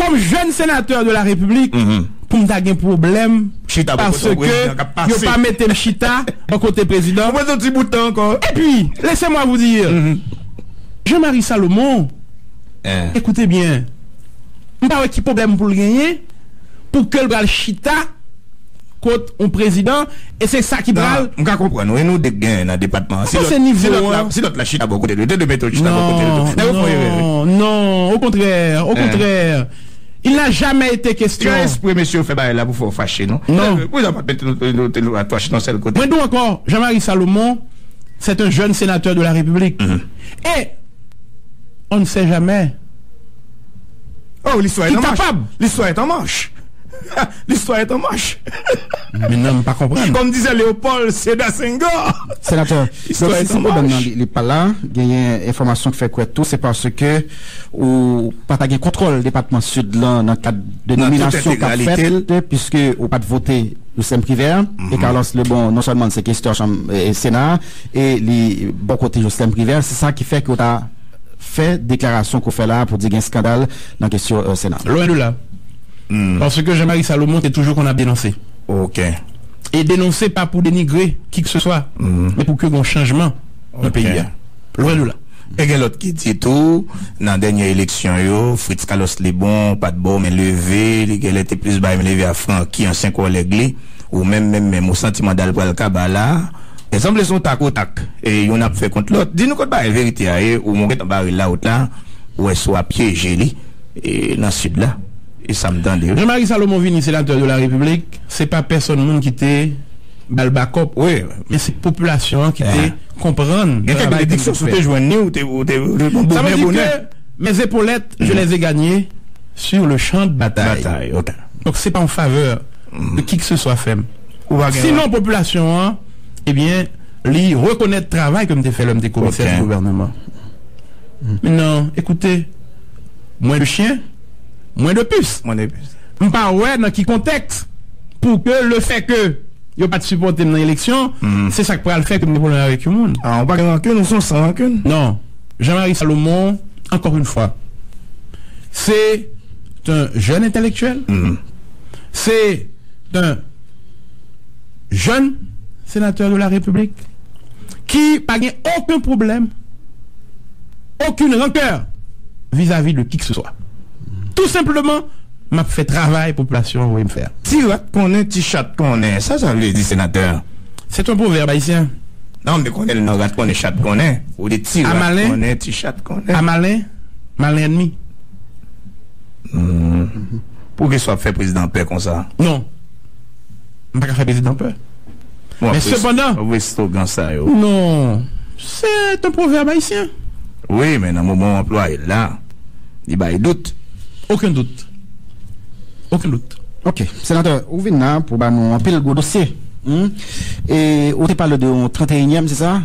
kòm jèn senatè de la repiblik pou m ta gen pwoblèm paske yo pa mete m chita bò kote prezidan epi lese mwa vou dir Jean Marie Salomon ekoute byen m pa wè ki pwoblèm pou l genyen pou ke l pral chita kot on prezidan e se sa ki pral. M ka konprann ou e nou 2 k gen nan depatman an si lòt la si lòt la chita bò kote l yo te 2 mete yo chita bò kote l yo nèg yo fon erè wi. Non okontrè okontrè il n'a jamais été question. Se espre mesye yo fè bagay la pou fè w fache non pou sa pat mete nou te nou atò chita yon sèl kote. Mwen di w ankò Jean Marie Salomon c'est un jeune sénateur de la République e on ne sait jamais. Oh, listwa et an mach. Ki kapab. Listwa et an mach. Ha! Listwa et an mach. Men nan, m pa konprann. Kòm dizè Leopold Seda Senghor. Senatè, donk si si pwoblèm nan li pa la, genyen enfòmasyon k fè kwè tou se paske ou pa ta gen kontwòl depatman Sid lan nan kad de nominasyon k ap fèt piske ou pa t vote Lucien Privert e Carlos Lebon non sèlman l se kestyon chanm sena a e li bò kote Jocelyn Privert se sa ki fè ke w ta fè deklarasyon ke w fè la a pou di gen skandal nan kesyon Sena? Lwen de la. Paske Jean Marie Salomon te toujou konn ap denonse. Ok. E denonse pa pou denigre kikseswa, men pou ke gen yon chanjman nan peyi a. Lwen de la. E gen lòt ki di tou, nan dènye eleksyon yo, Fritz Calos Lebon pa t ba w men leve, li gen lè te plis bay men leve a Francky, ansyen kòlèg li. Ou menm menm menm, ou santi manda l pral kaba la a? Sanble son tak o tak yonn ap fè kont lòt. Di nou kot bagay verite a ye ou gentan bare lawout la ou wè si w a pyeje li nan sid la e sa m tande. Jean Marie Salomon vini senatè de la repiblik se pa pèsòn moun ki te ba l bakòp men se popilasyon an ki te konprann travay ke l te fè sa vle di ke mes epaulettes je les ai gagnees sur le champ de bataille donk se pa yon faveur. de kikseswa fè m. Ou pa gen. Sinon popilasyon an, ebyen, li rekonèt travay ke m te fè lè m te komisè di gouvèneman. Men nan, ekoute, mwen de chyen, mwen de pis. Mwen de pis. M pa wè nan ki kontèks pou ke lefèke yo pa t sipòte m nan eleksyon, se sa k pral fè ke m gen pwoblèm avèk yon moun. A, ou pa gen rankin, ou se yon san rankin. Non. Jean Marie Salomon, ankò yon fwa, se. T un jeune intellectuel, c est un jeune Sénateur de la République ki pa gen oken pwoblèm, oken rancœur vizavi de kikseswa. Tou senpleman, m ap fè travay popilasyon an voye m fè a. Ti rat konnen, ti chat konnen. Sa sa vle di, Sénateur? Se t un proverbe haïtien. Non, men konnen l non, rat konnen, chat konnen. Ou di ti rat konnen, ti chat konnen. A malen, malen ènmi. Pou kisa w ap fè prezidan an pè konsa? Non. M pa ka fè prezidan pè. Men sepandan. Bon, apre slogan sa yo. Non. Se yon pwovèb ayisyen. Wi, men nan moman w anplwaye l la, li bay dout. Oken dout. Oken dout. Ok. Senatè, ou vin la pou ba nou anpil gwo dosye. E ou te pale de yon 31 èm, se sa?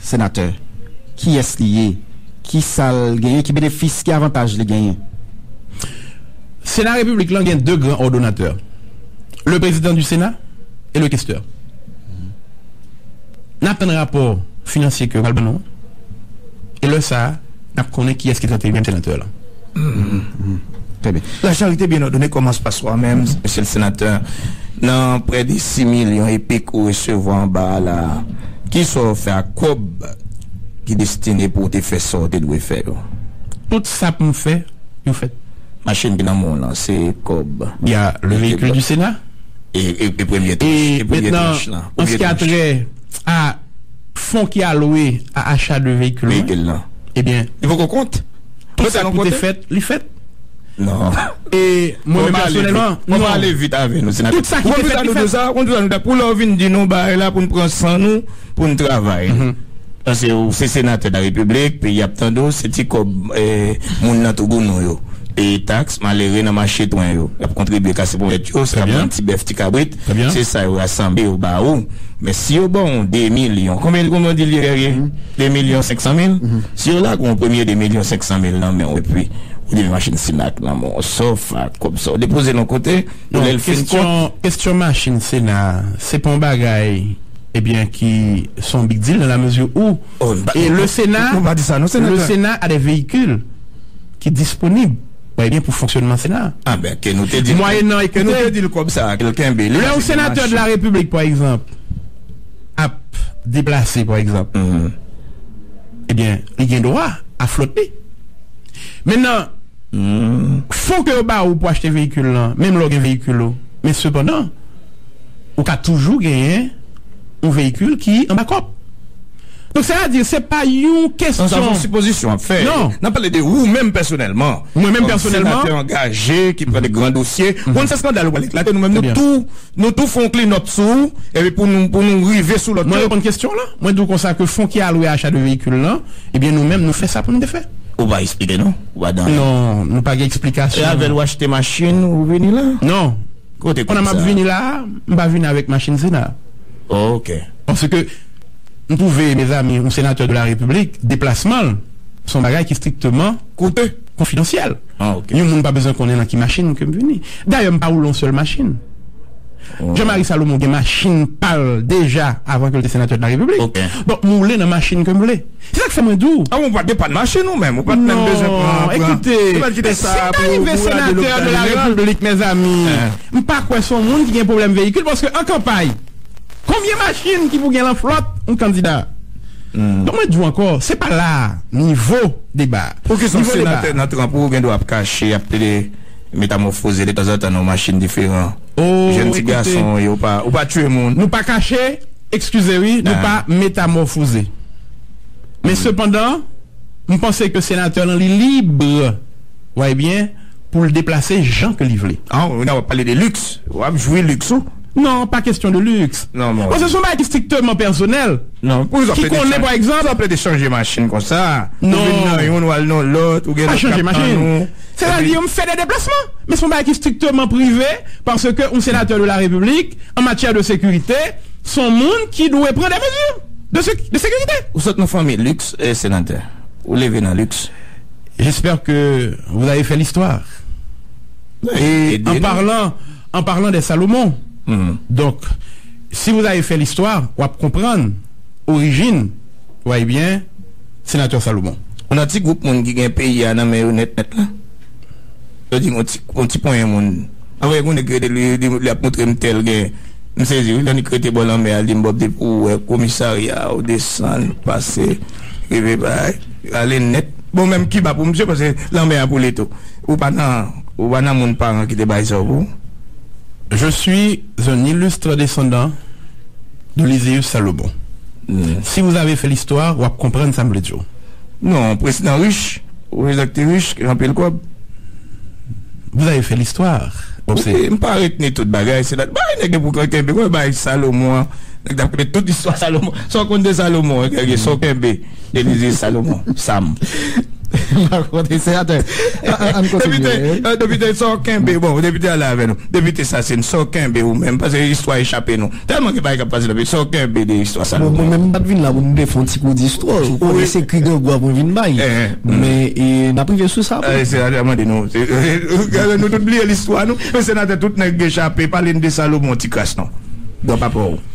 Senatè, kiyès li ye? Ki sa l genyen? Ki benefis, ki avantaj li genyen? Sena Repiblik lan gen 2 gran òdonatè, le Président du Sénat et le Questeur. N ap tann rapò finansye ke yo pral ban nou an e lè sa a n ap konnen kiyès ki 31 èm senatè lan. Trè byen. Lajan rete byen òdone kòman se pase wa menm mesye le senatè nan prè de 6 milyon epik ou resevwa anba a la a kisa w fè ak kòb ki destine pou w te fè sa w te dwe fè yo? Tout sa pou m fè yo fèt. Machin ki nan men w lan se kòb. Y a le véhicule du Sénat. E premye tranch lan? An se ki a trè a fon ki alowe a acha de véhicule lan. Li poko kont? Tout sa ki pou te fèt, li fèt. Non. E mwen menm pèsonèlman, non. Ou pale vit avè nou, senatè. Tout sa ki te fèt, li fèt. Ou konn sa nou ta, pou lè ou vin di nou bagay la pou nou pran san nou, pou nou travay. Paske ou se senatè de la Repiblik, peyi a ap tande ou, se ti kòb moun nan tougounou yo, peye taks, malere nan mache twen yo, y ap kontribye kase poubèt yo, se y ap vann ti bèf, ti kabrit, se sa yo rasanble yo ba ou. Men si yo baw on 2 milyon, konbyen konbyen ou di li ye Guerrier? 2 milyon 500 mil? Si yo lage on premye 2 milyon 500 mil nan menw epi ou di machin Cenac lan bon sòf ak kòb sa ou depozel on kote pou lèl fin kont. Kestyon machin Sena a se pa on bagay ebyen ki se on big deal nan la mezi ou e le Sena le Sena a de veyikil ki disponib. Mwen gen pou fonksyonman Sena a. Mwayennan koute, lè yon senatè de la Repiblik, pa egzanp, ap deplase, pa egzanp, ebyen, li gen dwa a flòt li. Mennan, fon ke yo ba ou pou achte veyikil lan, menm lè ou gen veyikil ou, men sepandan, ou ka toujou genyen yon veyikil ki an bakòp. Donk sa vle di se pa yon kesyon. Sa son sipozisyon wap fè. Nap pale de ou menm pèsonèlman. Mwen menm pèsonèlman. Kòm senatè angaje ki pran de gran dosye. Ou konn se skandal ou pral eklate nou menm nou tou fon klinòt sou ou epi pou nou rive sou lòt yo. Mwen reponn kesyon w lan. Mwen di w konsa ke fon ki alwe a acha de veyikil lan ebyen nou menm nou fè sa pou nou te fè. Ou pa esplike non. Ou pa dan anyen. Non. Nou pa gen eksplikasyon. E avèl ou achte machin ou vini la? Non. Kote kob sa? Pandan map vini la a, m pa vini avèk machin sena. Ok. Paske. M twouve mezanmi yon senatè de la repiblik deplasman l se yon bagay ki strikteman koute konfidansyèl yon moun pa bezwen konnen nan ki machin ke m vini dayè m pa woule yon sèl machin Jean Marie Salomon gen machin pa l deja avan ke l te senatè de la repiblik donk m woule nan machin ke m vle se sa k fè mwen di w Avan ou pa t gen pa t machin ou menm ou pa t menm bezwen pran non ekoute si m ta rive senatè de la repiblik mezanmi m pa kwè se yon moun ki gen pwoblèm veyikil paske an kanpay. Konbyen machin ki pou gen lan flòt yon kandida? Donk mwen di w ankò, se pa la a nivo deba a. Poukisa yon senatè nan tranp ou gen dwa ap kache, ap plede metamòfoze de tanzantan nan yon machin diferan? Jèn ti gason w ye, ou pa, ou pa tiye moun. Nou pa kache, ekskize wi, nou pa metamòfoze. Men sepandan, m panse ke senatè lan li lib, w a e byen, pou l deplase jan ke li vle. An, ou la w ap pale de liks, w ap jwi liks ou. Non, pa kestyon de luxe. Non, mon Dieu. Bon, se son bagay ki strictement personnel. Non, pou kisa w plede chanje. Ki konnen, pa ekzanp. Pou kisa w plede chanje machin konsa? Non. Ou vin nan youn, wal nan lòt, ou gen lòt kap tann ou. Se ta di, m fè de deplasman. Men se yon bagay ki strictement prive, parce que yon Sénateur de la République, en matière de sécurité, se yon moun ki dwe pran des mesures de sé, de sécurité. Ou sot nan fanmi luxe, eh, Sénatè? Ou leve nan luxe? J'espère que vous avez fait l'histoire. En parlant en parlant de Salomon donk si vous avez fait l'histoire w ap konprann orijin wa ebyen Senatè Salomon. Ou nan ti gwoup moun ki gen peyi a nan men yo nèt nèt la? Yo di yon ti yon ti ponyen moun. Pa wè yon nèg ki rete li di li ap montre m tèl gen m sezi wi lè li rete bò lanmè a li di m bon depi pou ou wè komisarya ou desann pase rive bay ale nèt bon menm Kiba pou misye pase lanmè a pou li tou. Ou pa nan ou pa nan moun paran ki te bay zòb ou. Je suis un illustre descendant de Lysius Salomon. Si vous avez fait l'histoire, wap konprann sa m vle di w. Non, prezidan rich, prezidan ki te rich, ki gen anpil kòb. Vous avez fait l'histoire. Ok, m pa retni tout bagay, se lòt bagay nèg yo pou konn kenbe. Mwen bay Salomon an, nèg ta konn tout istwa Salomon. Sa w konn de Salomon an, sa w kenbe. Elysée Salomon Sam Map konte senatè Ann kontinye Depite Depite sa w kenbe bon depite ale avè nou Depite Sassine sa w kenbe ou menm pase istwa echape nou tèlman gen bagay kap pase nan peyi sa w kenbe de istwa Salomon Bon mwen menm m pat vin la pou m te fè yon ti kou di istwa ou konnen se kri grangou a mwen vin bay men nap rive sou sa aprè Senatè mande nou Nou tout bliye listwa nou men senatè tout nèg echape pale n de Salomon tikras non Dwa papa w.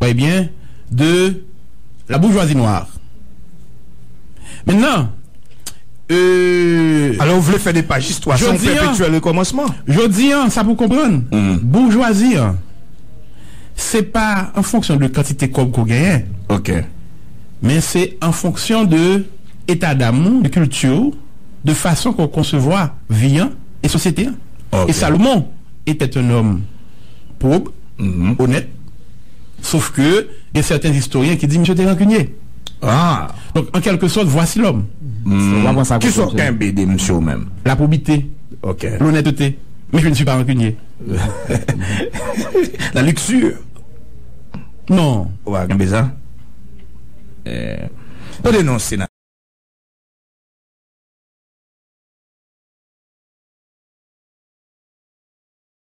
Trè byen, de la boujwazi nwa. Mennan, ee. Alò ou vle fè de paj istwa sa yon pèpetyèl rekòmansman? Jodi an, sa pou w konprann, boujwazi an, se pa an fonksyon de kantite kòb ke w genyen. Ok. Men se an fonksyon de etadam ou, de kilti w, de fason ke w konsevwa vi an e sosyete an. Ok. E Salomon etait un homme. pwob, onèt. Sof ke gen sèten istoryen ki di misye te rankinye. Aah! Donk, an kèlke sòt, vwasi lòm. Hum! Ki sa w kenbe de misye ou menm? La pwobite. Ok. Lonètete. Men je ne suis pas rancunier. La luxure. Non. Ou pa kenbe sa? Eh. Tande non, Senatè.